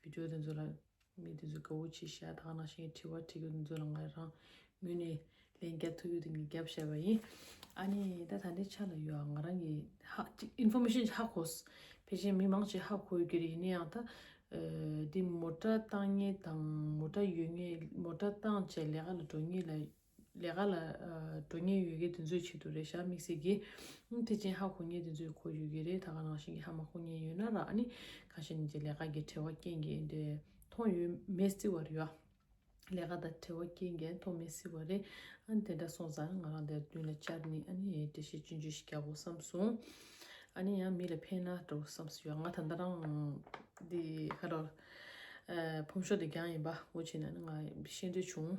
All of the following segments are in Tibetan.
བུ་ཆོས་དེ་ཚོ་ལ་ངས་དེ་ཚོའི་དགའ་བོ་བྱས་ཤ་ཐག་ནག་ཞེན་གྱི་དྲི་བ་དྲིས་ཀྱང་དེ་ཚོ་ལ་ངས་རང་མོས་ནས་ལན་རྒྱབ་ཐུབ་ཡོད་དུ་ངས་རྒྱབ་བཤད་པ་ཡིན། ཨ་ནི་ད་ད་ལྟའི་ཆ་ལ་ཡོད་ཨང་ང་རང་གི་ཧ་ཅིག information ཧ་གོ། དེ་བཞིན་མི་མང་ཆེ་ཧ་གོ་ཡོད་ཀྱི་རེད་ཡིན་ན་ཡང་ད། འདི་མོ་ཏྲ་བཏང་ངེས་དང་མོ་ཏྲ་ཡོད་ངེས་མོ་ཏྲ་བཏང་བྱས་ལས་ཀ་ལ་འགྲོ་ངེས་ལ། ལས་ཀ་ལ་འགྲོ་ཉེན་ཡོད་མཁན་དེ་ཚོའི་ཆེད་དུ་རེད་ཤག་དམིགས་བསལ་གྱིས། དེ་ཅན་ཧ་གོ་ཉེན་དེ་ཚོའི་གོ་ཡོད་ཀྱི་རེད་ད་ག་ནང་བཞིན་གྱི་ཧ་མ་གོ་ཉེན་ཡོད་ན་རག་ནི། གང་ཞིག་ནི་དེ་ལས་ཀ་གི་བྲེལ་བ་སྐྱེན་གྱིན་དེ་མཐོང་ཡོད་མེད་བརྩི་བར་ཡོད་ཨ། ལས་ཀ་དང་བྲེལ་བ་སྐྱེན་གྱིན་མཐོང་མེད་བརྩི་བ་རེད་ཨ་དེ་འདྲ་སོང་ཙང་ང་རང་དེར་མདུན་ལ་བཅར་ནི་ཨ་ནི་ཨེ་འདྲ་ཞིག་སྤྱོད་འཇུག་ཞིག་རྒྱག་དགོས་བསམ་སོང། ཨ་ནི་ཡང་མི་ལ་ཕན་ན་འགྲོ་བསམ་སོ་ཡང་ང་ད་ལྟ་རང་འདི་ཁ་རོག། ཕོམ་ཤོག་དེ་རྒྱང་ཡིན་པ་འོ་བྱས་ན་ནི་ང་ཤེས་འདོད་བྱུང།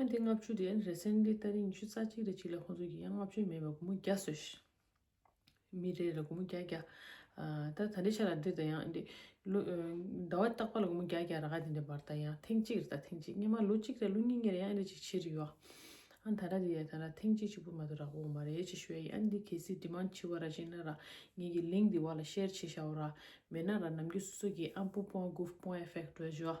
ཡང་དེ་ལྔ་བཅུ་དེ་རེ་ཟན་དེ་ལྟར་རིང་ཉི་ཤུ་རྩ་གཅིག་རེ་གཅིག་ལ་ཁོང་ཚོ་གིས་ཡང་ལྔ་བཅུ་མེད་པར་གུ་མུ་བརྒྱ་བཟོས་ཤིང། མི་རེ་རེ་ལ་གུ་མུ་བརྒྱ་བརྒྱ། ད་ད་འདྲའི་ཆ་ལ་འདིར་དང་ཡང་འདི། ལོ། ཟླ་བ་བརྟག་པ་ལ་གུ་མུ་བརྒྱ་བརྒྱ་ར་ག་དེ་འདྲའི་བར་དང་ཡང་ཐེངས་གཅིག་རེ་དང་ཐེངས་གཅིག་སྔན་མ་ལོ་གཅིག་རེ་ལོ་གཉིས་གཉིས་རེ་ཡང་འདྲའི་ཅིག་ཕྱིར་ཡོད། ཨང་ད་ར་དེ་ཡང་ད་ར་ཐེངས་གཅིག་གཅིག་པུ་མ་ཏོ་རག་འོང་བ་རེད་ཅེས་ཞུ་ཡ་ཡང་འདི་གལ་སྲིད་འདི་མང་ཆེ་བ་ར་ཤེས་ན་ར་ངེད་ཀྱིས་ལིང་འདི་བ་ལ་ཤེར་བྱེད་བྱའོ་ར་མེད་ན་ར་ནམ་རྒྱུན་སོ་སོ་གིས་ཨམ་སྤུ་སྤོང་གུ་སྤོང་ཨེ་ཕེག་འགྲོས་བྱོས།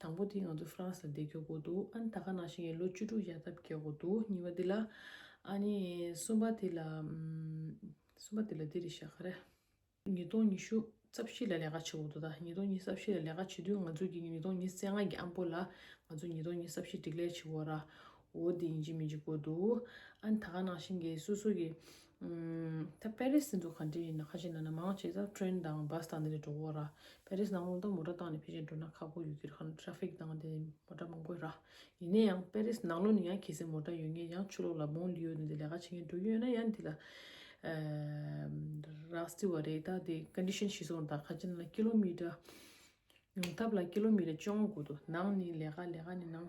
དང་པོ་དེ་ང་ཚོ France ལ་བསྡད་ཁྱོག་གོ་འདུག་ཨ་ནི་ད་ག་ནང་ཞིག་ཡིན་ལོ་བཅུ་དྲུག་ཡར་ཐབས་བསྐྱལ་གོ་འདུག་གཉིས་པ་དེ་ལ། ཨ་ནི་གསུམ་པ་དེ་ལ། གསུམ་པ་དེ་ལ་འདི་རེད་བཤད་ག་རེ། ཉིས་སྟོང་ཉི་ཤུ་རྩ་བཞི་ལ་ལས་ཀ་བྱེད་གོ་འདུག་ད་ཉིས་སྟོང་ཉི་རྩ་བཞི་ལ་ལས་ཀ་བྱེད་དུས་ང་ཚོ་གི་ཉིས་སྟོང་ཉི་རྩེ་ལྔ་གི་ཨ་མགོ་ལ་ང་ཚོ་ཉིས་སྟོང་ཉི་རྩ་བཞི་སྒྲིག་ལས་བྱེད་གོ་ར་འོ་དེ་ཡིན་གྱི་མིན་གྱི་གོ་འདུག་ཨ་ནི་ད་ག་ནང་ཞིག་གི་སོ་སོ་གི་ད་པེ་རི་སི་འགྲོ་ག་འདྲས་ཡིན་ན་ཁ་ཤས་ན་ན་མང་ཆེ་ས་བྲེན་དང་བཱ་སི་དང་འདི་ལས་འགྲོ་གོ་ར་པེ་རི་སི་ནང་ལུང་དང་མོ་ཏྲ་བཏང་ནས་ཕེ་ཅིན་འགྲོ་ན་ཁག་པོ་ཡོད་གི་ར་ཁ་ན་ཏྲ་ཕིག་དང་འདི་མོ་ཏྲ་མང་པོ་ར་ཡིན་ན་ཡང་པེ་རི་སི་ནང་ལུང་ནས་ཡང་གལ་སྲིད་མོ་ཏྲ་ཡོད་ངེས་ཡང་ཆུ་ལོག་ལ་བོང་ལི་ཡོད་ནས་འདི་ལས་ཀ་བྱེད་མཁན་འགྲོ་རྒྱུ་ཡོད་ན་ཡང་འདི་ལ་ར་སི་བ་རེད་ད་འདི condition ཤི་སོང་ད་ཁ་ཅིན་ན་ཀི་ལོ་མི་ཏྲ་ཉུང་ཐབས་ལ་ཀི་ལོ་མི་ཏྲ་བཅོ་ལྔ་དགོས་འདུག་ནང་ནི་ལས་ཀ་ལས་ཀ་ནི་ནང།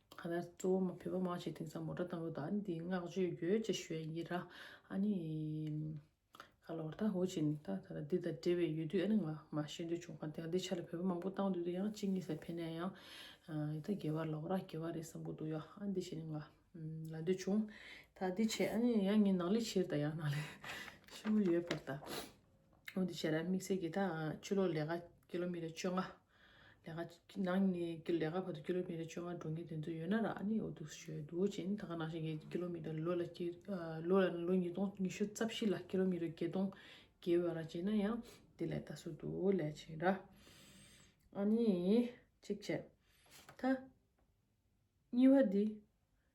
ཁ་ན་གཙོ་བོ་མ་བོད་པ་མང་ཆེ་དེང་སང་མོ་ཏྲ་དང་པོ་ད་འདི་བསྔགས་བརྗོད་ཡོད་ཅེས་ཞུ་ཡ་ཡི་ར་ཨ་ནི་ཁ་ལོར་ད་ཧོ་ཅིན་ད་ད་ད་འདི་དང་འབྲེལ་བའི་ཡོད་དུས་ཨ་ནི་ང་མ་ཤེས་འདོད་བྱུང་ཁ་འདི་ཆ་ལ་བོད་པ་མང་པོ་བཏང་འདོད་འདུག་ཡང་གཅིག་གཉིས་ཟེར་ཕེ་ནས་ཡང་ཡི་ད་རྒྱལ་བ་ལོག་ར་རྒྱལ་བ་རེད་བསམ་གོ་འདུག་ཡ་ཨ་འདི་བྱས་ནས་ང་ལ་འདོད་བྱུང་ད་འདི་བྱས་ཨ་ནི་ཡང་ངའི་ནང་ལས་ཕྱིར་ད་ཡང་ནང་ལས་ཕྱིར་མོ་ཡོད་པར་ད་ཨོ་འདི་བྱས་ར་དམིགས་བསལ་གྱི་ད་ཆུ་ལོག་ལས་ཀ་ཀི་ལོ་མི་ལ་བཅོ་ལྔ་ལས་ཀ་ནང་ནས་ཀྱི་ལས་ཀ་བར་དུ་ཀི་ལོ་མི་ཏར་བཅོ་ལྔ་འགྲོ་མཁན་དེ་ཚོ་ཡོད་ན་ར་ཨ་ནི་འོ་དུག་ཞོད་དུག་ཅན་ད་ག་ནང་བཞིན་གྱི་ཀི་ལོ་མི་ཏར་ལོ་ལ་ཀི་ལོ་ལ་ལོ་ཉིས་སྟོང་ཉི་ཤུ་རྩ་བཞི་ལ་ཀི་ལོ་མི་ཏར་བརྒྱད་སྟོང་བརྒལ་བའི་ར་བྱེད་ན་ཡང་དེ་ལས་ད་གཟོད་དུ་ལས་བྱེད་ར་ཨ་ནི་གཅིག་བྱས་ད་གཉིས་བ་དེ་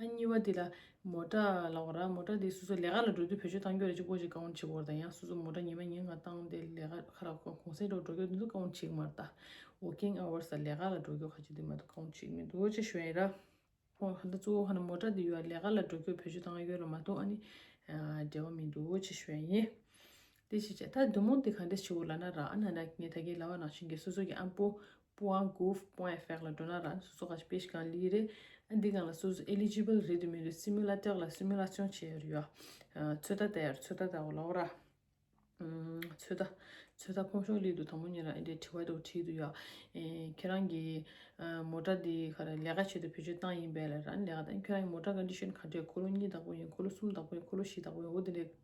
ཨ་གཉིས་པ་དེ་ལ་མོ་ཏྲ་ལ་བ་ར་མོ་ཏྲ་དེ་སོ་སོ་ལས་ཀ་ལ་འགྲོ་དུས་བོད་ཆོས་གཏང་རྒྱུ་རེ་ཅིག་སྐོར་ཅིག་བཀའ་བོན་ཆེ་བོར་དང་ཡང་སོ་སོ་མོ་ཏྲ་ཉི་མ་ཉིན་གང་བཏང་དེ་ལས་ཀ་ཁ་རག་གོང་གསལ་འགྲོ་འགྲོ་རྒྱུ་དེ་ཚོ་བཀའ་བོན་ཆེ་གི་མ་རེད་ད། Working Hours ལ་ལས་ཀ་ལ་འགྲོ་རྒྱུ་ཁ་ཅིག་དེ་མ་ཏོག་བཀའ་བོན་ཆེ་གི་མི་འདུག་ཅེས་ཞུ་བ་ཡིན་ར། ཁོང་ཧ་ད་གཙོ་བོ་ཧ་ན་མོ་ཏྲ་དེ་ཡོད་ལས་ཀ་ལ་འགྲོ་རྒྱུར་བོད་ཆོས་གཏང་གི་ཡོད་ལ་མ་ཏོག་ཨ་ནི་འབྲེལ་བ་མི་འདུག་ཅེས་ཞུ་བ་ཡིན། དེ་བྱས་བྱས་ད་བདུད་མོ་འདི་ག་འདྲས་བྱེའུ་ལ་ན་ར་ཨ་ན་ན་ངས་ད་གིས་ལ་བ་ནང་བྱིན་གྱིས་སོ་སོ་གྱི་ཨམ་པོ་པུ་ཨང་གུབ་པུ་ཨེ་ཧྥེག་ལ་འགྲོ་ན་ར་ཨ་ན་སོ་སོ་ག་ཆི་པེ་ཤི་གང་ལི་རེད་ཨ་འདི་གང་ལ་སོ་སོ Eligible རེད་དུ་མི་རེད་སི་མི་ལ་ཏེག་ལ་སི་མི་ལ་ཅོང་བྱས་ཡོད་རེད་ཚོད་ད་ད་ཡར་ཚོད་ད་ད་བ་ལ་བ་ར་ཚོད་ད་ཚོད་ད་ཕོང་ཤོག་ལི་དུ་དང་པོ་ཉིན་ར་ཨེ་འདྲས་བྲིས་བ་དུ་བྲིས་དུ་ཡོད་ཁྱེད་རང་གི་མོ་ཏྲ་འདི་ག་ར་ལས་ཀ་བྱེད་དུ་ཕེ་ཆོད་སྟངས་ཡིན་པས་ལ་ར་ཨ་ན་ལས་ཀ་དང་ཁྱེད་རང་གི་མོ་ཏྲ་ག་འདྲས་ཤོད་ནི་ག་འདྲས་འཁོར་ལོ་གཉིས་དང་པོ་ཡིན་འཁོར་ལོ་གསུམ་དང་པོ་ཡིན་འཁོར་ལོ་བཞི་དང་པོ་ཡིན་འོ་དེ་ལས